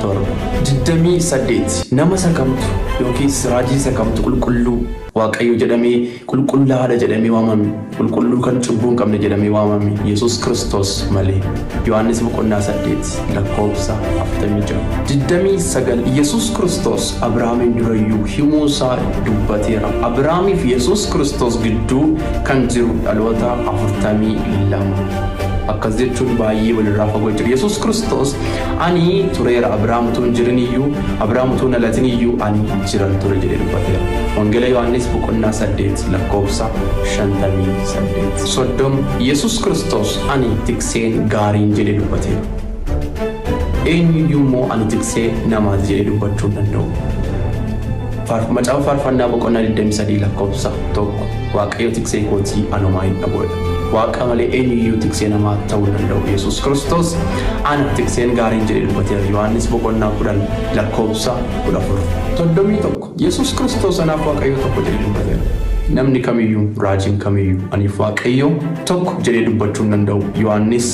Tor. 28, Nama isa kamtu yookiis raajii isa kamtu qulqulluu. Waaqayyo jedhamee, qulqullaa'aa dha jedhamee waamame? Qulqulluu kan cubbuu hin qabne jedhamee waamame Yesuus Kiristoos malee. Yohaannis boqonnaa 8 lakkoofsa 46. 29, Yesuus Kiristoos Abrahaamiin dura iyyuu himuu isaa dubbateera. Abrahaamii fi Yesuus Kiristoos gidduu kan jiru dhaloota 42. Akkas jechuun baay'ee wal irraa fagoo jira. Yesuus Kiristoos Ani tureera Abiraam utuu hin jirin iyyuu, Abiraam utuu hin dhalatin iyyuu ani jiran ture jedhee dubbateera. Wangeela Yohaannis boqonnaa 8 lakkoofsa 58. 30 Yesus Kiristoos ani tikseen gaariin jedhee dubbateera. Eenyu iyyuu immoo ani tiksee namaati jedhee dubbachuu hin danda'u. Faarf- Macaafa Faarfannaa boqonnaa 23 lakkoofsa 1. Waaqayyo tiksee kootii anomaa hin dhaboodha. Waaqa malee eenyuyyuu tiksee namaa ta'uu hin danda'u. Yesuus Kiristoos ana tikseen gaariin jedhee dubbateera. Yohaannis boqonnaa 10 lakkoofsa 14. 31. Yesuus Kiristoos anaaf Waaqayyo tokko jedhee dubbateera. Namni kamiyyuu, raajiin kamiyyuu aniif Waaqayyo tokko jedhee dubbachuu hin danda'u. Yohaannis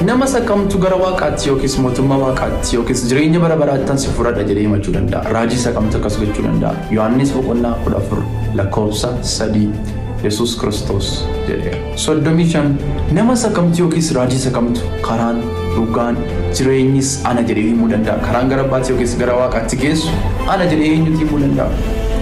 Nama isa kamtu gara Waaqaatti yookiis mootummaa Waaqaatti yookiis jireenya bara baraattan si fudhadha jedhee himachuu danda'a? Raajii isa kamtu akkas gochuu danda'a? Yohaannis boqonnaa 14 lakkoofsa 3 Yesuus Kiristoos jedheera. 35 Nama isa kamtu yookiis raajii isa kamtu karaan, dhugaan, jireenyis ana jedhee himuu danda'a? Karaan gara abbaatti yookiis gara Waaqaatti geessu ana jedhee eenyutu himuu danda'a?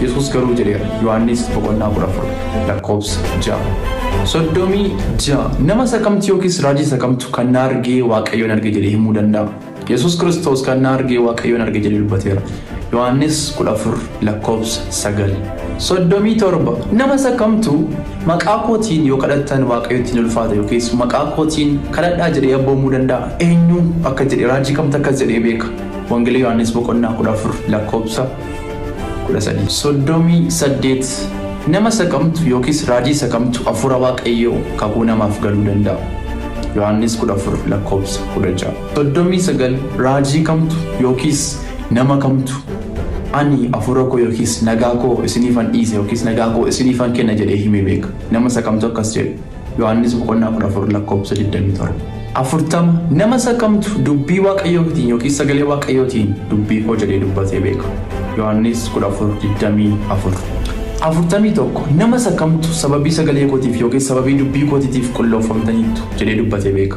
Yesuus garuu jedheera. Yohaannis boqonnaa 14. lakkoofsa ja'a. Soddomii ja'a. Nama isa kamtu yookiis raajii isa kamtu kan na argee Waaqayyoon arge jedhee himuu danda'a? Yesuus Kiristoos kan na argee Waaqayyoon arge jedhee dubbateera. Yohaannis 14 lakkoofsa 9. Soddomii torba. Nama isa kamtu maqaa kootiin yoo kadhattan Waaqayyotti hin ulfaata yookiis maqaa kootiin kadhadhaa jedhee abboomuu danda'a? Eenyu akka jedhe raajii kamtu akkas jedhee beeka? Wangeela Yohaannis boqonnaa 14 lakkoofsa 13. 38. Nama saqamtu yookiis raajii saqamtu Hafuura Waaqayyoo kakuu namaaf galuu danda'a. Yohaannis 14 lakkoofsa 16. 39. Raajii kamtu yookiis nama kamtu ani hafuura koo yookiis nagaa koo isiniifan dhiisa yookiis nagaa koo isiniifan kenna jedhee himee beeka. Nama saqamtu akkas jedhe. Yohaannis boqonnaa 14 lakkoofsa 27. 40 nama isa kamtu dubbii waaqayyootiin yookiin sagalee waaqayyootiin dubbii koo jedhee dubbatee beeka. Yohaannis 14:24. 41 nama isa kamtu sababii sagalee kootiif yookiin sababii dubbii kootiitiif qulloofamtaniittu jedhee dubbatee beeka.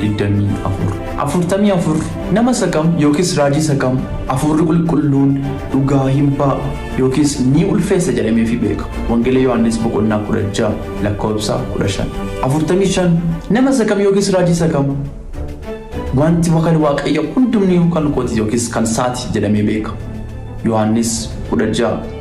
24. 44 nama isa kam yookiis raajii isa kam Hafuurri Qulqulluun dhugaa hin ba'a yookiis ni ulfeessa jedhameefii beeka? Wangeela Yohaannis boqonnaa 16 lakkoofsa 15. 45 nama isa kam yookiis raajii isa kam wanti wakan Waaqayyo hundumni kan kooti yookiis kan saati jedhamee beeka? Yohaannis 16.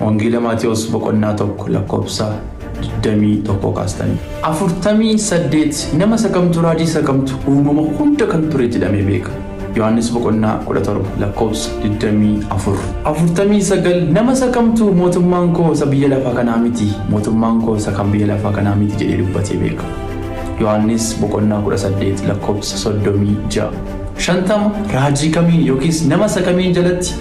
Wangeela Maatewos boqonnaa 1 lakkoofsa 21 kaastanii. 48 nama isa kamtu raajii isa kamtu uumama hunda kan ture jedhamee beeka. Yohaannis boqonnaa 17 lakkoofsa 24. 49 nama isa kamtu mootummaan koo isa biyya lafaa kanaa miti mootummaan koo isa kan biyya lafaa kanaa miti jedhee dubbatee beeka. Yohaannis boqonnaa 18 lakkoofsa 36. 50 raajii kamiin yookiis nama isa kamiin jalatti